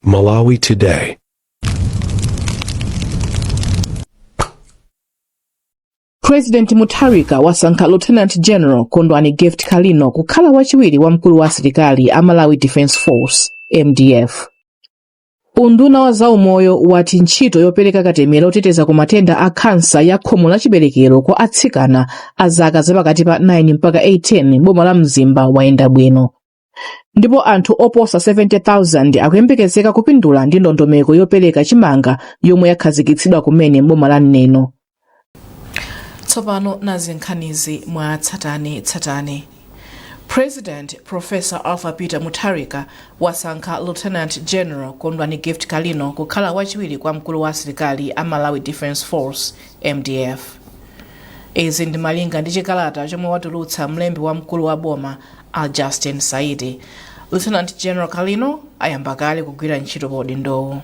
Malawi Today. President Mutharika wasankha Lieutenant General Kondwani Gift Kalino kukhala wachiwiri wa mkulu wa asilikali a Malawi Defence Force MDF. Unduna wa zaumoyo wati ntchito yopereka katemera oteteza ku matenda a khansa ya khomo la chiberekero kwa atsikana a zaka zapakati pa 9 mpaka 18 m'boma la Mzimba wayenda bwino. ndipo anthu oposa 70,000 akuyembekezeka kupindula ndi ndondomeko yopereka chimanga yomwe yakhazikitsidwa kumene m'boma la neno tsopano nazi nkhanizi mwa tsatane tsatane president professor arthur peter mutharika wasankha lieutenant general kondwani gift kalino kukhala wachiwiri kwa mkulu wa asilikali a malawi defence force mdf izi ndi malinga ndi chikalata chomwe watulutsa mlembi wamkulu wa boma A Justin Saidi. Lieutenant General Kalino ayamba kale kugwira ntchito pa udindowu.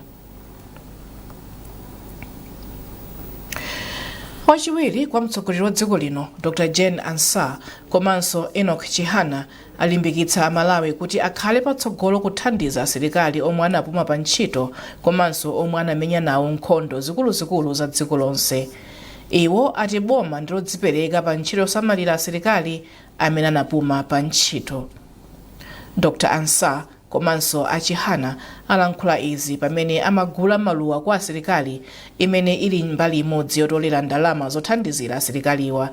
wachiwiri kwa mtsogoleri wa dziko lino dr jane ansah komanso enoch chihana alimbikitsa amalawi kuti akhale patsogolo kuthandiza asilikali omwe anapuma pa ntchito komanso omwe anamenya nawo nkhondo zikuluzikulu za dziko lonse iwo ati boma ndilodzipereka pa ntchito yosamalira asilikali amene anapuma pa ntchito. Dr Ansah komanso a Chihana alankhula izi pamene amagula maluwa kwa asilikali imene ili mbali imodzi yotolera ndalama zothandizira asilikaliwa.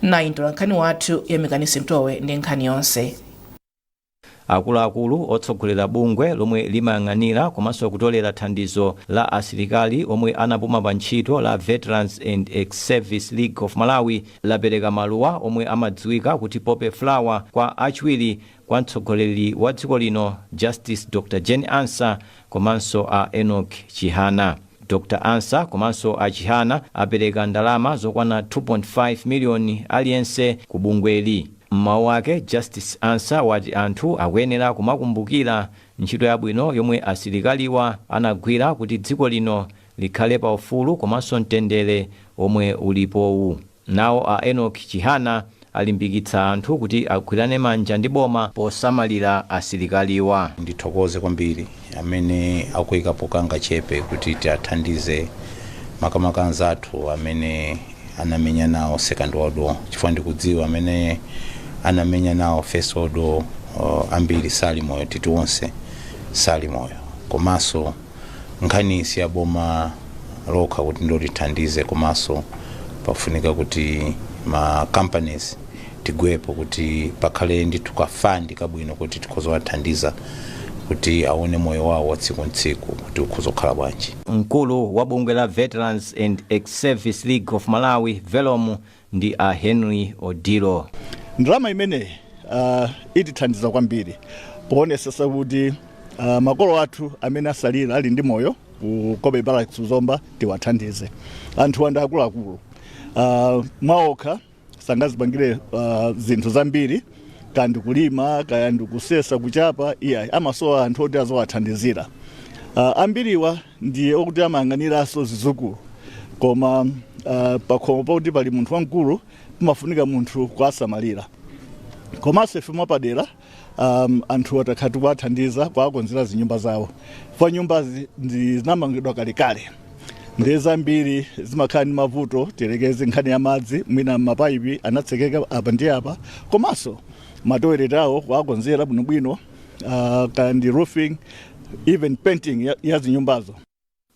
Nayu mtolankhani wathu Yamikani Simtowe ndi nkhani yonse. Akuluakulu otsogolera bungwe lomwe limayang'anira komanso kutolera thandizo la asilikali omwe anapuma pa ntchito la Veterans and Ex-Service League of Malawi lapereka maluwa omwe amadziwika kuti poppy flower kwa achiwiri kwa mtsogoleri wa dziko lino Justice Dr Jane Ansah komanso a Enoch Chihana. Dr Ansah komanso a Chihana apereka ndalama zokwana 2.5 million aliyense ku bungweli. M'mawu ake, Justice Ansah wati anthu akuyenera kumakumbukira ntchito yabwino yomwe asilikaliwa anagwira kuti dziko lino likhale pa ufulu komanso mtendere omwe ulipowu. Nawo a Enoch Chihana alimbikitsa anthu kuti agwirane manja ndi boma posamalira asilikaliwa. Ndithokoze kwambiri amene akuyikapo kangachepe kuti tiathandize makamaka anzathu amene anamenya nawo second world war chifukwa ndikudziwa amene anamenya nawo first world war ambiri sali moyo titi onse sali moyo komanso nkhani si ya boma lokha kuti ndilotithandize komanso pafunika kuti ma companies tigwepo kuti pakhale ndithu ka fund kabwino kuti tikhoza kuwathandiza kuti aone moyo wawo wa tsiku ntsiku kuti ukhoza kukhala bwanji Mkulu wa bungwe la Veterans and Ex-Service League of Malawi, VELOM, ndi a Henry Odillo. Ndalama imeneyi uh, itithandiza kwambiri poonetsetsa kuti uh, makolo athu amene atsalira ali ndi moyo ku Cobbe Barracks Zomba tiwathandize. Anthuwa ndi akuluakulu uh, mwaokha sangazipangire uh, zinthu zambiri kaya ndikulima kaya ndikusesa kuchapa iyayi amasowa anthu oti aziwathandizira uh, ambiriwa ndiye okuti amayang'aniranso zizukulu koma uh, pakhomo pakuti pali munthu wamkulu pamafunika munthu kuwasamalira komanso ife mwapadera um, anthu takhala tikuwathandiza kuwakonzera zinyumba zawo pa nyumbazi ndi- zinamangidwa kalekale ndiye zambiri zimakhala ndi mavuto tiyerekeze nkhani ya madzi mwina mapayipi anatsekeka apa ndi apa komanso matoilet awo kuwakonzera bwinobwino uh, kaya ndi roofing even painting ya, ya zinyumbazo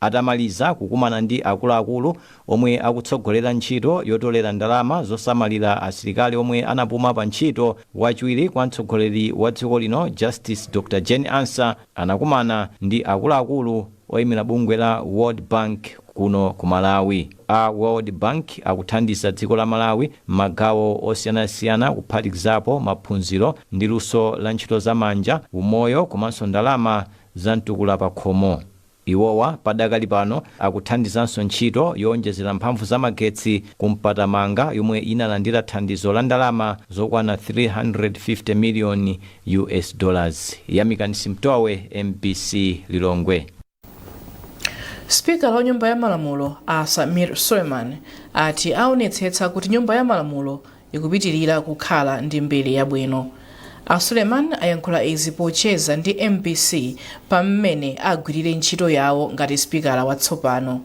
atamaliza kukumana ndi akuluakulu omwe akutsogolera ntchito yotolera ndalama zosamalira asilikali omwe anapuma pa ntchito wachiwiri kwa mtsogoleri wa dziko lino justice dr jane ansah anakumana ndi akuluakulu oyimira bungwe la World Bank kuno ku Malawi. A World Bank akuthandiza dziko la Malawi m'magawo osiyanasiyana kuphatikizapo maphunziro ndi luso la ntchito za manja, umoyo komanso ndalama za mtukula pakhomo. Iwowa padakali pano akuthandizanso ntchito yoonjezera mphamvu za magetsi ku Mpatamanga yomwe inalandira thandizo la ndalama zokwana 350 million US dollars. Yamikani Simtowe, mbc Lilongwe. Sipikala wa nyumba ya malamulo a Sameer Suleman ati awonetsetsa kuti nyumba ya malamulo ikupitirira kukhala ndi mbiri yabwino. A Suleman ayankhula izi pocheza ndi mbc pa mmene agwirire ntchito yawo ngati sipikala watsopano.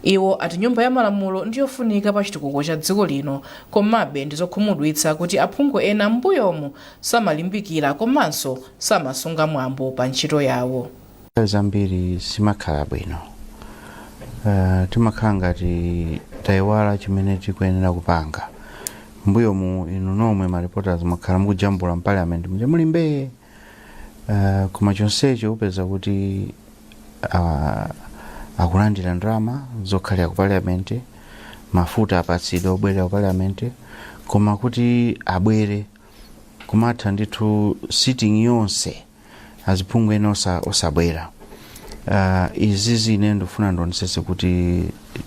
Iwo ati nyumba ya malamulo ndiyofunika pa chitukuko cha dziko lino komabe ndizokhumudwitsa kuti aphungu ena mmbuyomu samalimbikira komanso samasunga mwambo pa ntchito yawo. nthawi zambiri simakhala bwino uh, timakhala ngati tayiwala chimene tikuyenera kupanga mbuyomu inu nomwe ma reporters mwakhala mukujambula mu parliament muje muli mbee uh, koma chonsecho upeza kuti uh, akulandira ndalama zokhalira ku parliament mafuta apatsidwa obwerera ku parliament koma kuti abwere kumatha ndithu sitting yonse aziphungu ena osa- osabwera uh, izi zimene ndifuna ndionesese kuti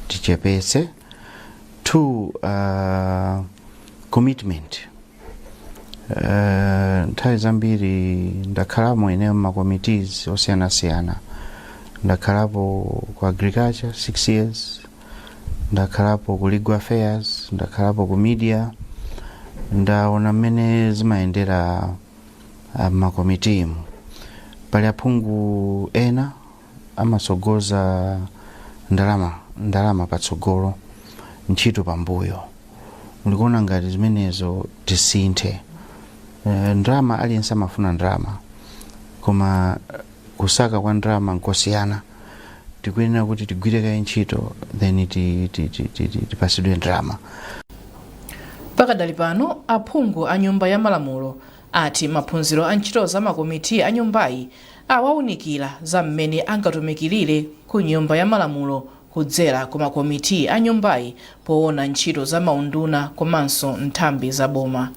tichepetse two uh, commitment uh, nthawi zambiri ndakhalamo ine m'ma committees osiyanasiyana ndakhalapo ku agriculture six years ndakhalapo ku legal affairs ndakhalapo ku media ndaona mmene zimayendera ah, m'makomitimu pali aphungu ena amatsogoza ndalama ndalama patsogolo ntchito pambuyo ndikuona ngati zimenezo tisinthe Eh, ndalama aliyense amafuna ndalama koma eh, Kusaka kwa ndalama nkosiyana. Tikuyenera kuti tigwire kaye ntchito then tipasidwe ndalama. Pakadali pano, aphungu a Nyumba ya Malamulo ati maphunziro a ntchito za makomiti a nyumbayi awaunikira za mmene angatumikilire ku Nyumba ya Malamulo kudzera ku makomiti a nyumbayi poona ntchito za maunduna komanso nthambi za boma.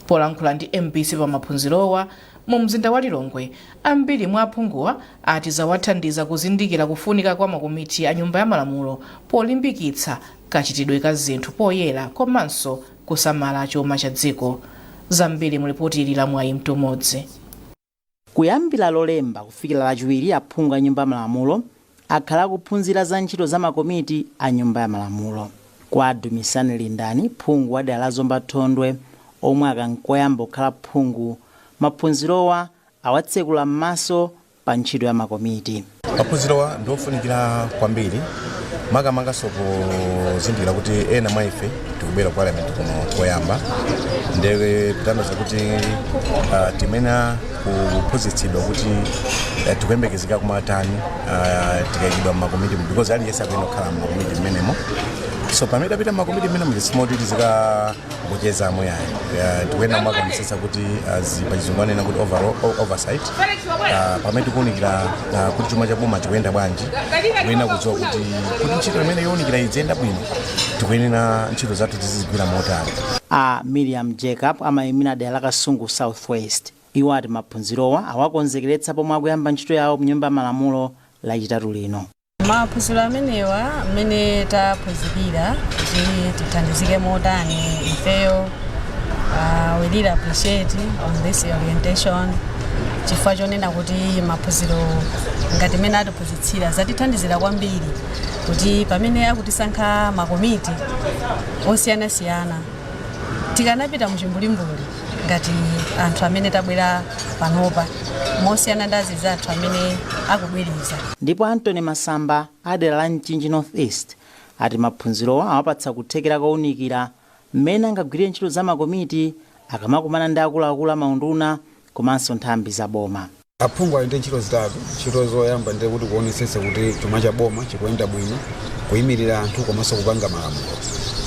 Polankhula ndi mbc pa maphunzirowa, Mu mzinda wa Lilongwe, ambiri mwa aphunguwa ati zawathandiza kuzindikira kufunika kwa makomiti a Nyumba ya Malamulo polimbikitsa kachitidwe ka zinthu poyera komanso kusamala chuma cha dziko. Zambiri mu lipoti ili la Mwayi Mtumodzi. Kuyambira Lolemba kufikira Lachiwiri, aphungu a Nyumba ya Malamulo akhala akuphunzira za ntchito za makomiti a Nyumba ya Malamulo. Kwa a Dumisani Lindani, phungu wa dera la Zomba Thondwe, omwe aka n'koyamba kukhala phungu, maphunzirowa awatsekula m'maso pa ntchito ya makomiti. Maphunzirowa ndi ofunikira kwambiri makamakanso pozindikira kuti ena mwa ife tikubwera ku parliament kuno koyamba nde kutanthauza kuti uh, timayenera kuphunzitsidwa kuti uh, tikuyembekezeka kumatani uh, tikayikidwa mmakomiti mu because aliyense akuyenera kukhala mmakomiti mmenemo so pamene tapita mmakomiti mmenemo sizimoti tizikangocheza momo ayi uh, tikuyenera kumakaonetsetsa kuti uh, zi- pachizungu amanena kuti overall o- oversight uh, pamene tikuunikira uh, kuti chuma cha boma chikuyenda bwanji tikuyenera kudziwa kuti kuti ntchito imene yowunikira idziyenda bwino tikuyenera ntchito zathu tizizigwira motani a miriam jacob amayimira dera la kasungu southwest iwo ati maphunzirowa awakonzekeretsa pomwe akuyamba ntchito yawo mnyumba ya malamulo lachitatu lino maphunziro amenewa mmene taphunzirira kuti tithandizike motani ifeyo uh, we really appreciate on this orientation chifukwa chonena kuti maphunziro ngati mene atiphunzitsira zatithandizira kwambiri kuti pamene akutisankha makomiti osiyanasiyana tikanapita muchimbulimbuli ngati anthu amene tabwera panopa mosiyana ndi anzathu amene akubwereza Ndipo Anthony Masamba a dera la Mchinji North East ati maphunzirowa awapatsa kuthekera kounikira mmene angagwirire ntchito za makomiti akamakumana ndi akuluakulu a maunduna komanso nthambi za boma. Aphungu ali ndi ntchito zitatu. Ntchito zoyamba ndiye kuti kuonetsetsa kuti chuma cha boma chikuyenda bwino, kuyimirira anthu komanso kupanga malamulo.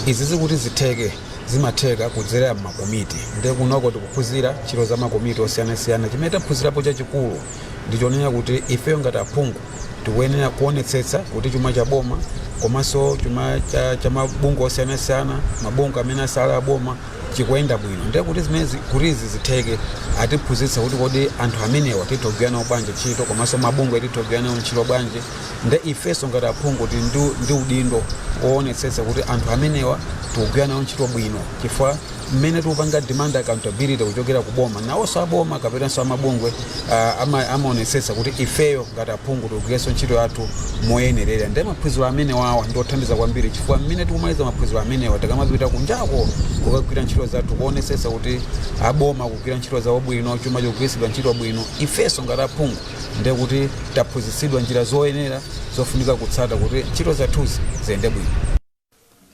Izi zikuti zitheke zimatheka kudzera m'makomiti ndiye kunoko tikuphunzira ntchito za makomiti osiyanasiyana. Chimene taphunzirapo chachikulu ndi chonena kuti ifeyo ngati aphungu tikuyenera kuonetsetsa kuti chuma cha boma komanso chuma cha, cha mabungwe osiyanasiyana, mabungwe amene asali a boma chikuyenda bwino ndiye kuti zimenezi kuti izi zitheke atiphunzitsa kuti kodi anthu amenewa titha kugwira nawo bwanji ntchito komanso mabungwe titha kugwira nawo ntchito bwanji nde ifenso ngati aphungu tili ndi, ndi udindo woonetsetsa kuti anthu amenewa tikugwira nawo ntchito bwino chifukwa mmene tikupanga demand accountability kuchokera ku boma nawonso aboma kapenanso amabungwe ah, ama- amaonetsetsa kuti ifeyo ngati aphungu tigwirenso ntchito yathu moyenerera ndi maphunziro amenewawa ndi othandiza kwambiri chifukwa mmene tikumaliza maphunziro amenewa tikamapita kunjako kukagwira ntchito zathu kuonetsetsa kuti aboma akugwira ntchito zawo bwino chuma chikugwiritsidwa ntchito bwino ifenso ngati aphungu nde kuti taphunzitsidwa njira zoyenera zofunika kutsata kuti ntchito zathuzi ziyende bwino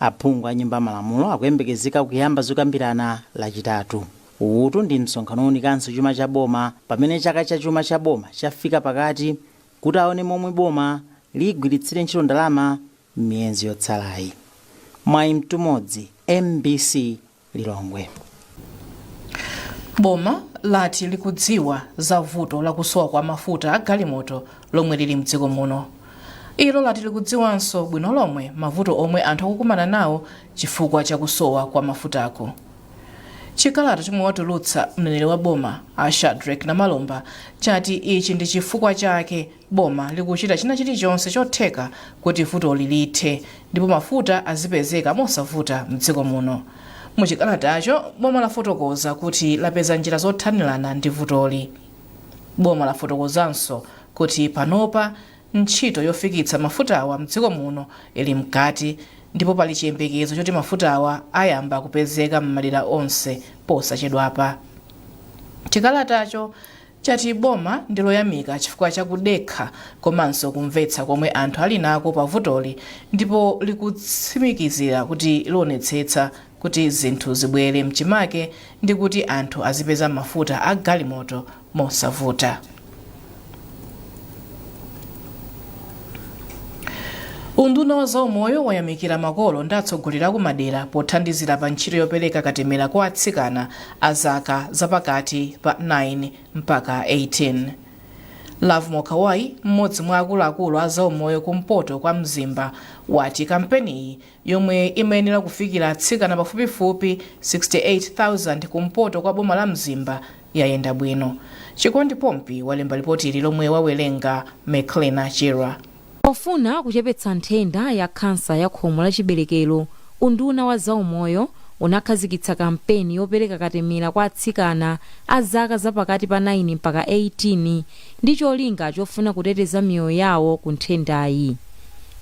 Aphungu a nyumba ya malamulo akuyembekezeka kuyamba zokambirana lachitatu. Uwutu ndi msonkhano owunikanso chuma cha boma pamene chaka cha chuma cha boma chafika pakati kuti awone momwe boma ligwiritsire ntchito ndalama m'miyezi yotsalayi. Mwayi Mtumodzi, MBC Lilongwe. Boma lati likudziwa za vuto la kusowa kwa mafuta a galimoto lomwe lili mdziko muno. Ilo lati likudziwanso bwino lomwe mavuto omwe anthu akukumana nawo chifukwa cha kusowa kwa mafutako. Chikalata chomwe watulutsa mneneri wa boma a Shadrack Namalomba chati ichi ndi chifukwa chake Boma likuchita china chilichonse chotheka kuti vutoli lithe ndipo mafuta azipezeka mosavuta mdziko muno. Mu chikalatacho, boma lafotokoza kuti lapeza njira zothanirana ndi vutoli. Boma lafotokozanso kuti panopa ntchito yofikitsa mafutawa mdziko muno ili mkati ndipo pali chiyembekezo choti mafutawa ayamba kupezeka m'madera onse posachedwapa. Chikalatacho chati boma ndiloyamika chifukwa cha kudekha komanso kumvetsa komwe anthu ali nako pa vutoli ndipo likutsimikizira kuti lionetsetsa kuti zinthu zibwere mchimake ndi kuti anthu azipeza mafuta a galimoto mosavuta. unduna wa zaumoyo wayamikira makolo ndi atsogoleri akumadera pothandizira pa ntchito yopereka katemera kwa atsikana a zaka zapakati pa 9 mpaka 18 lovemore kawayi mmodzi mwa akuluakulu a zaumoyo kumpoto kwa mzimba wati kampeniyi yomwe imayenera kufikira atsikana pafupifupi 68,000 kumpoto kwa boma la Mzimba yayenda bwino. Chikondi Pompi walemba lipotili lomwe wawerenga Meclina Chirwa. Pofuna kuchepetsa nthenda ya khansa ya khomo la chiberekero, unduna wa zaumoyo unakhazikitsa kampeni yopereka katemera kwa atsikana a zaka za pakati pa 9 mpaka 18 ndi cholinga chofuna kuteteza miyoyo yawo ku nthendayi.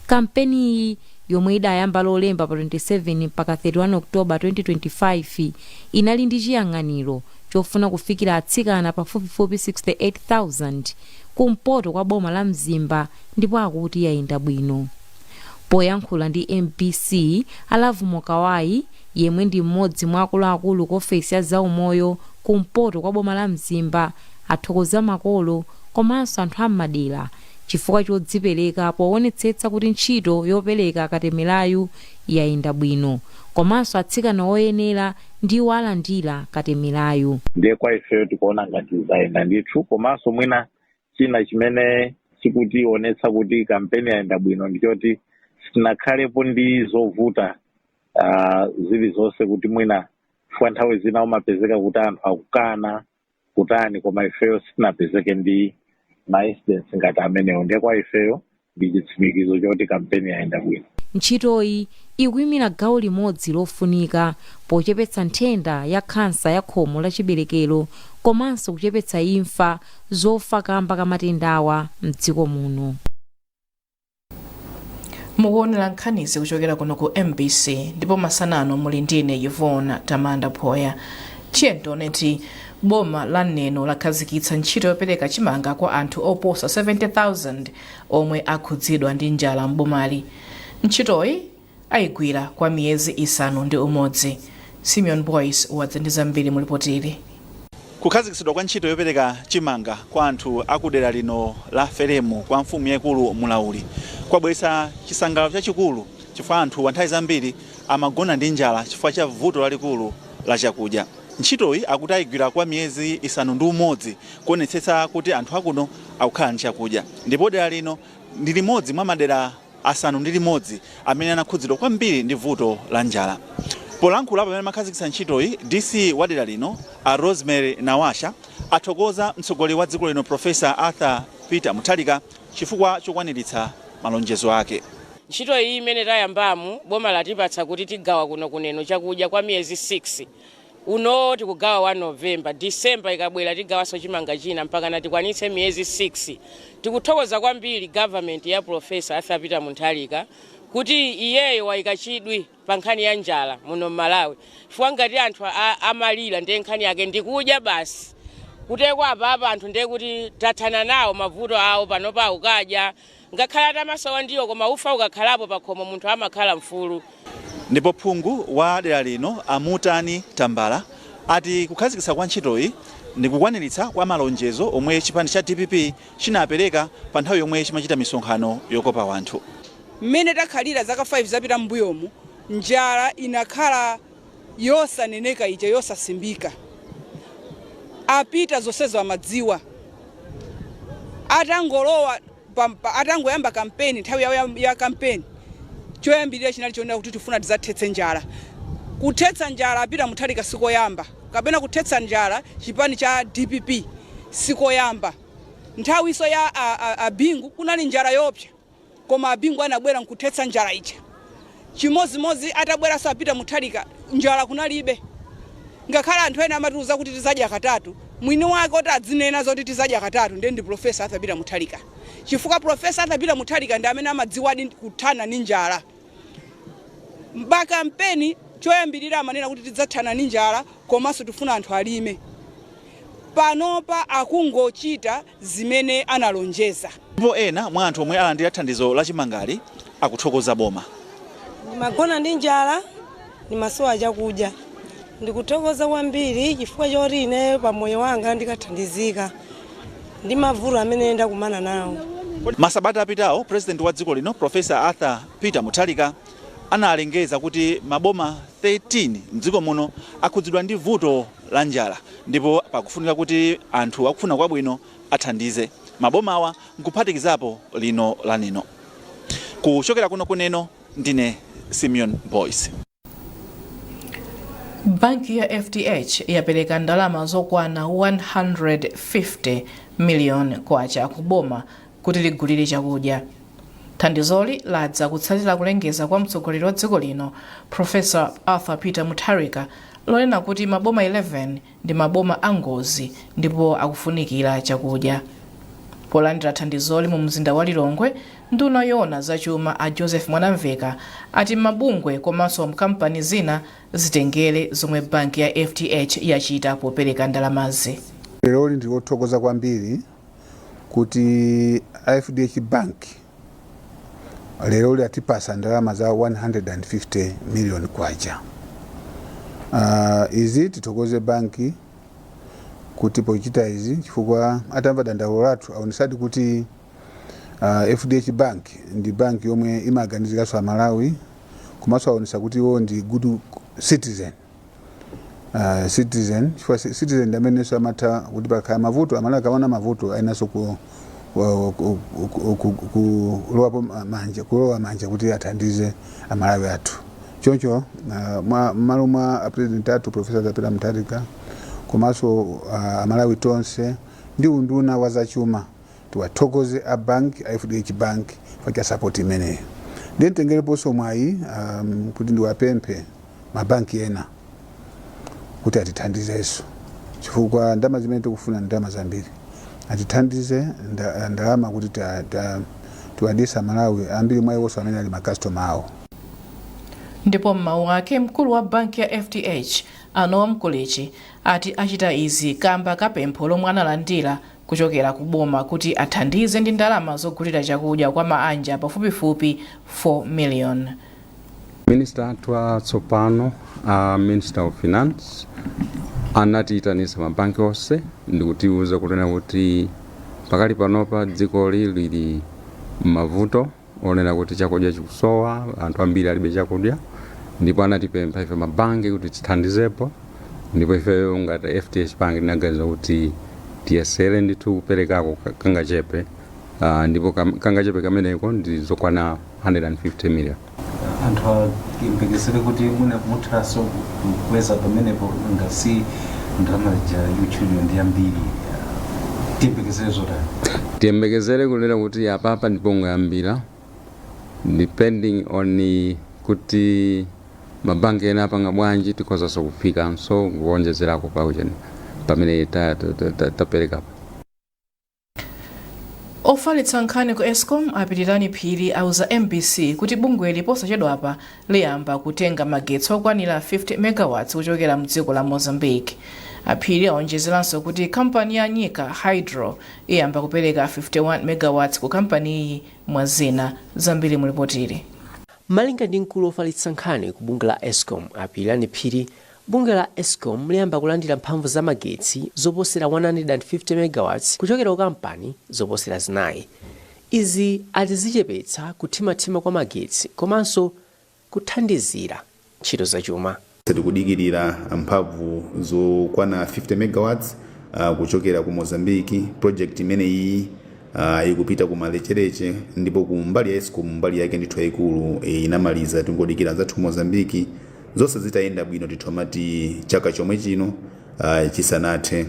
Kampeniyi yomwe idayamba Lolemba pa 27 mpaka 31 October 2025, inali ndi chiyang'aniro chofuna kufikira atsikana pafupifupi 68,000 kumpoto kwa boma la Mzimba ndipo akuti yayenda bwino. Poyankhula ndi mbc, a Lovemore Kawayi, yemwe ndi m'modzi mwa akuluakulu ku ofesi ya zaumoyo kumpoto kwa boma la Mzimba, athokoza makolo komanso anthu a m'madera chifukwa chodzipereka poonetsetsa kuti ntchito yopereka katemerayu yayenda bwino komanso atsikana oyenera ndiwo alandira katemerayu. Ndiye kwa ifeyo tikuona ngati zayenda ndithu komanso mwina china chimene chikutionetsa kuti kampeni yayenda bwino ndi choti sitinakhalepo ndi zovuta ah, zilizonse kuti mwina chifukwa nthawi zina umapezeka kuti anthu akukana kutani koma ifeyo sitinapezeke ndi maincidents ngati amenewo ndiye kwa ifeyo ndi chitsimikizo choti kampeni yayenda bwino Ntchitoyi ikuimira gawo limodzi lofunika pochepetsa nthenda ya khansa ya khomo la chiberekero komanso kuchepetsa imfa zodza kamba ka matendawa m'dziko muno. mukuonera nkhanizi kuchokera kuno ku mbc ndipo masana ano muli ndine yvonne tamanda phoya tiyendoneti boma la neno lakhazikitsa ntchito yopereka chimanga kwa anthu oposa 70000 omwe akhudzidwa ndi njala m'bomali ntchitoyi aigwira kwa miyezi isanu ndi umodzi. Simeon Boyce wadza ndi zambiri mu lipotili. Kukhazikitsidwa kwa ntchito yopereka chimanga kwa anthu a ku dera lino la Feremu kwa mfumu yaikulu Mulauli kwabweretsa chisangalalo chachikulu chifukwa anthuwa nthawi zambiri amagona ndi njala chifukwa cha vuto lalikulu la chakudya. Ntchitoyi akuti aigwira kwa miyezi isanu ndi umodzi kuonetsetsa kuti anthu akuno akukhala ndi chakudya ndipo dera lino ndi limodzi mwa madera asanu ndi limodzi amene anakhudzidwa kwambiri ndi vuto la njala. Polankhula pamene amakhazikitsa ntchitoyi, DC wa dera lino a Rosemary Nawasha athokoza mtsogoleri wa dziko lino Professor Arthur Peter Mutharika chifukwa chokwaniritsa malonjezo ake. Ntchito iyi imene tayambamu boma latipatsa kuti tigawa kuno ku Neno chakudya kwa miyezi 6. Uno tikugawa wa November. December ikabwera tigawanso chimanga china mpakana tikwanitse miyezi 6. Tikuthokoza kwambiri government ya Prof. Arthur Peter Mutharika kuti iyeyo waika chidwi pa nkhani ya njala muno m'Malawi chifukwa ngati anthu amalira ndiye nkhani yake ndikudya basi. Kuteko apapa anthu ndiye kuti tathana nawo mavuto awo panopa akukadya Ngakhale atamasowa ndiwo koma ufa ukakhalapo pakhomo munthu amakhala mfulu. Ndipo phungu wa dera lino a Mutani Tambala ati kukhazikitsa kwa ntchitoyi ndi kukwaniritsa kwa malonjezo omwe chipani cha dpp chinapereka pa nthawi yomwe chimachita misonkhano yokopa wanthu. Mmene takhalira zaka 5 zapita mmbuyomu, njala inakhala yosaneneka ija yosasimbika a peter zonsezo amadziwa atangolowa atangoyamba kampeni nthawi ya kampeni choyambirira chinali chonena kuti tifuna tizathetse njala kuthetsa njala a peter mutharika sikoyamba kapena kuthetsa njala chipani cha dpp sikoyamba nthawiso ya a bingu kunali njala yopsa Koma a Bingu anabwera nkuthetsa njala ija. Chimodzimodzi atabweranso a Peter Mutharika, njala kunalibe. Ngakhale anthu ena amatiuza kuti tizadya katatu, mwini wake oti adzinena zoti tizadya katatu ndi Prof. Arthur Peter Mutharika. Chifukwa Prof. Arthur Peter Mutharika ndi amene amadziwadi kuthana ndi njala. Pa kampeni choyambirira amanena kuti tidzathana ndi njala komanso tifuna anthu alime. Panopa akungochita. zimene analonjeza. Ndipo ena mwa anthu omwe alandira thandizo la chimangali akuthokoza boma. Ndimagona ndi njala, ndimasowa chakudya. Ndikuthokoza kwambiri chifukwa choti ineyo pa moyo wanga ndikathandizika ndi mavuto amene ndakumana nawo. Masabata apitawo Purezidenti wa dziko lino Professor Arthur Peter Mutharika analengeza kuti maboma 13 m'dziko muno akhudzidwa ndi vuto la njala ndipo pakufunika kuti anthu akufuna kwabwino athandize mabomawa nkuphatikizapo lino la Neno. Kuchokera kuno ku Neno ndine Simeon Boyce. Banki ya FDH yapereka ndalama zokwana 150 million kwacha kuboma kuti ligulire chakudya. Thandizoli ladza kutsatira kulengeza kwa mtsogoleri wa dziko lino Professor Arthur Peter Mutharika lonena kuti maboma 11 ndi maboma a ngozi ndipo akufunikira chakudya. Polandira thandizoli mu mzinda wa Lilongwe, nduna yoona za chuma a Joseph Mwanamveka ati mabungwe komanso makampani ena zitengere zomwe banki ya FDH yachita popereka ndalamazi. Lero ndikuthokoza kwambiri kuti FDH Bank lero yatipasa ndalama za 150 million kwacha uh, izi tithokoze banki kuti pochita izi chifukwa atamva dandaulo lathu aonesadi kuti uh, FDH Bank ndi banki yomwe imaganiziranso aMalawi komanso aonesa kuti iwo ndi good citizen uh, citizen chifukwa ci- citizen ndi amenenso amatha kuti pakhala mavuto aMalawi akaona mavuto ayeneranso ku wa- ku- ku- ku- ku- kulowapo ma- manja kulowa manja kuti athandize aMalawi athu choncho ah, mwa- m'malo mwa apresident athu Professor Arthur Peter Mutharika komanso ah, aMalawi tonse ndi unduna wa zachuma Tiwathokoze a bank a FDH Bank chifukwa cha support imeneyi. Ndiye nditengereponso mwayi um, kuti ndiwapemphe mabanki ena kuti atithandizenso chifukwa ndalama zimene tikufuna ndalama zambiri atithandize nda- ndalama kuti ta- ta- tiwadyetse aMalawi ambiri mwa iwonso amene ali makastoma awo ndipo m'mawu ake mkulu wa banki ya FDH a Noel Mkulichi ati achita izi kamba ka pempho lomwe analandira kuchokera ku boma kuti athandize ndi ndalama zogulira chakudya kwa maanja pafupifupi 4 million. Minister athu atsopano a Minister of Finance anatiitanisa mabanki onse ndikutiuza kunena kuti pakali panopa dzikoli lili m'mavuto onena kuti chakudya chikusowa anthu ambiri alibe chakudya ndipo anatipempha ife mabanki kuti tithandizepo ndipo ifeyo ngati FDH Bank tinaganiza kuti tiyesere ndithu kuperekako ka- kangachepe uh, ndipo kam- kangachepe kameneko ndi zokwana 150 million anthu ayembekezere kuti mwina muthaso kukweza pamenepo ngati ndalama ija yotchulidwa ndi ambiri tiyembekezere zotani Tiyembekezere kunena kuti apapa ndipongoyambira depending on kuti ma bank ena apanga bwanji tikhozaso kufikanso kuonjezerako pa ujeni pamene taperekapo. Ofalitsa nkhani ku Escom a Pilirani Phiri auza MBC kuti bungweli posachedwapa liyamba kutenga magetsi okwanira 50 megawatts kuchokera mdziko la Mozambique. A Phiri aonjezeranso kuti kampani ya Nyika Hydro iyamba kupereka 51 megawatts ku kampaniyi mwa zina. Zambiri mu lipotiri. Malinga ndi mkulu ofalitsa nkhani ku bungwe la escom a Pilirani Phiri, bungwe la escom liyamba kulandira mphamvu za magetsi zoposera 150 megawatts kuchokera ku kampani zoposera zinayi. Izi ati zichepetsa kuthimathima kwa magetsi komanso kuthandizira ntchito za chuma. Tikudikirira mphamvu zokwana 50 megawatts kuchokera ku Mozambique, project imeneyi ikupita kumalecheleche ndipo ku mbali ya escom mbali yake ndithu yaikulu inamaliza tingodikira anzathu ku Mozambique zonse zitayenda bwino titha kumati chaka chomwe chino chisanathe.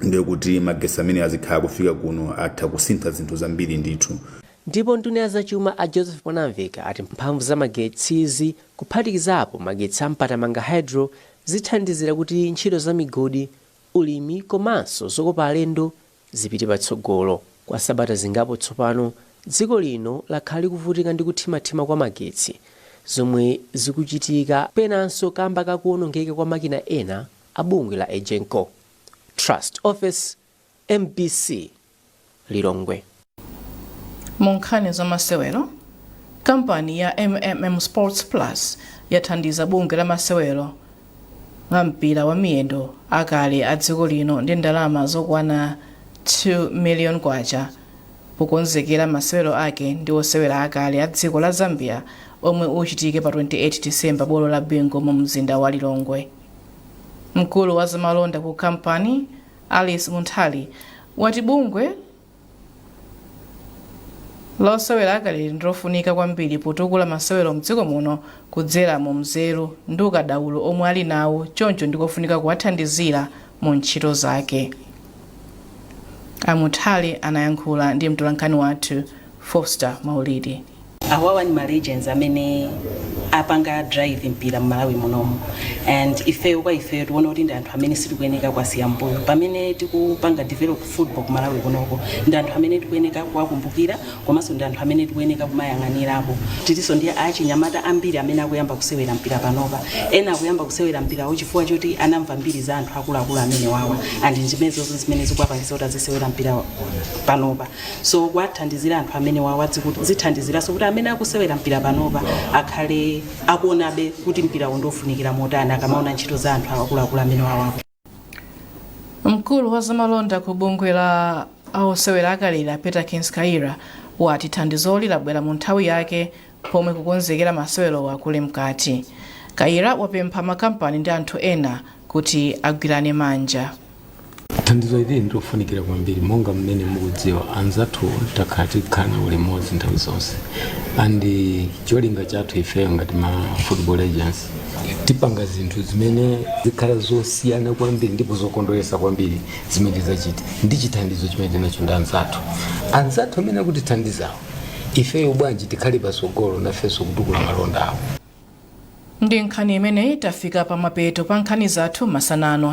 ndiye kuti magetsi amene azikhala kufika kuno atha kusintha zinthu zambiri ndithu Ndipo nduna ya zachuma a Joseph Mwanamveka ati mphamvu za magetsizi kuphatikizapo magetsi a Mpatamanga Hydro zithandizira kuti ntchito za migodi, ulimi komanso zokopa alendo zipite patsogolo. Kwa sabata zingapo tsopano, dziko lino lakhala likuvutika ndi kuthimathima kwa magetsi zomwe zikuchitika penanso kamba ka kuonongeka kwa makina ena a bungwe la Egenco. Trust Ofesi, mbc, Lilongwe. Mu nkhani za masewero, kampani ya MMM Sports Plus yathandiza bungwe la osewera mpira wa miyendo akale a dziko lino ndi ndalama zokwana 2 million kwacha pokonzekera masewero ake ndi osewera akale a dziko la Zambia omwe achitike pa 28 December bwalo la Bingu mu mzinda wa Lilongwe. Mkulu wa zamalonda ku kampani Alice Munthali wati bungwe la osewera akaleli ndilofunika kwambiri potukula masewero mdziko muno kudzera mu nzeru ndi ukadaulo omwe ali nawo choncho ndikofunika kuwathandizira mu ntchito zake. A Munthali anayankhula ndi mtolankhani wathu Foster Maulidi. awawa ndi ma legends amene apanga drive mpira mmalawi munomu and ifeyo kwa ifeyo tiona kuti ndi anthu amene sitikuyeneka kuwasiya mbuyo pamene tikupanga develop football ku malawi kunoko ndi anthu amene tikuyeneka kuwakumbukira komanso ndi anthu amene tikuyeneka kumayang'anirapo tilinso ndi achinyamata ambiri amene akuyamba kusewera mpira panopa ena akuyamba kusewera mpirawo chifukwa choti anamva mbiri za anthu akuluakulu amenewawa and zimenezozo zimene zikuwapangitsa kuti azisewera mpira panopa so kuwathandizira anthu amenewawa zithandiziranso kuti amene akusewera mpira panopa akhale akuonabe kuti mpirawu ndiofunikira motani akamaona ntchito za anthu akuluakulu amenewawa mkulu wa zamalonda ku bungwe la osewera akaleli a peter kinskaira wati thandizoli labwera mu nthawi yake Pomwe kukonzekera masewerowa kuli mkati, Kayira wapempha makampani ndi anthu ena kuti agwirane manja. Thandizo ili ndilofunikira kwambiri monga mmene mukudziwa anzathu takhala tikukhala nawo limodzi nthawi zonse and cholinga chathu ifeyo ngati ma football agents tipanga zinthu zimene zikhala zosiyana kwambiri ndipo zokondweretsa kwambiri zimene zachitika ndi chithandizo chimene tinacho ndi anzathu anzathu amene akutithandizawo ifeyo bwanji tikhale patsogolo nafenso kutukula malonda awo ndi nkhani imeneyi tafika pa mapeto pa nkhani zathu masana ano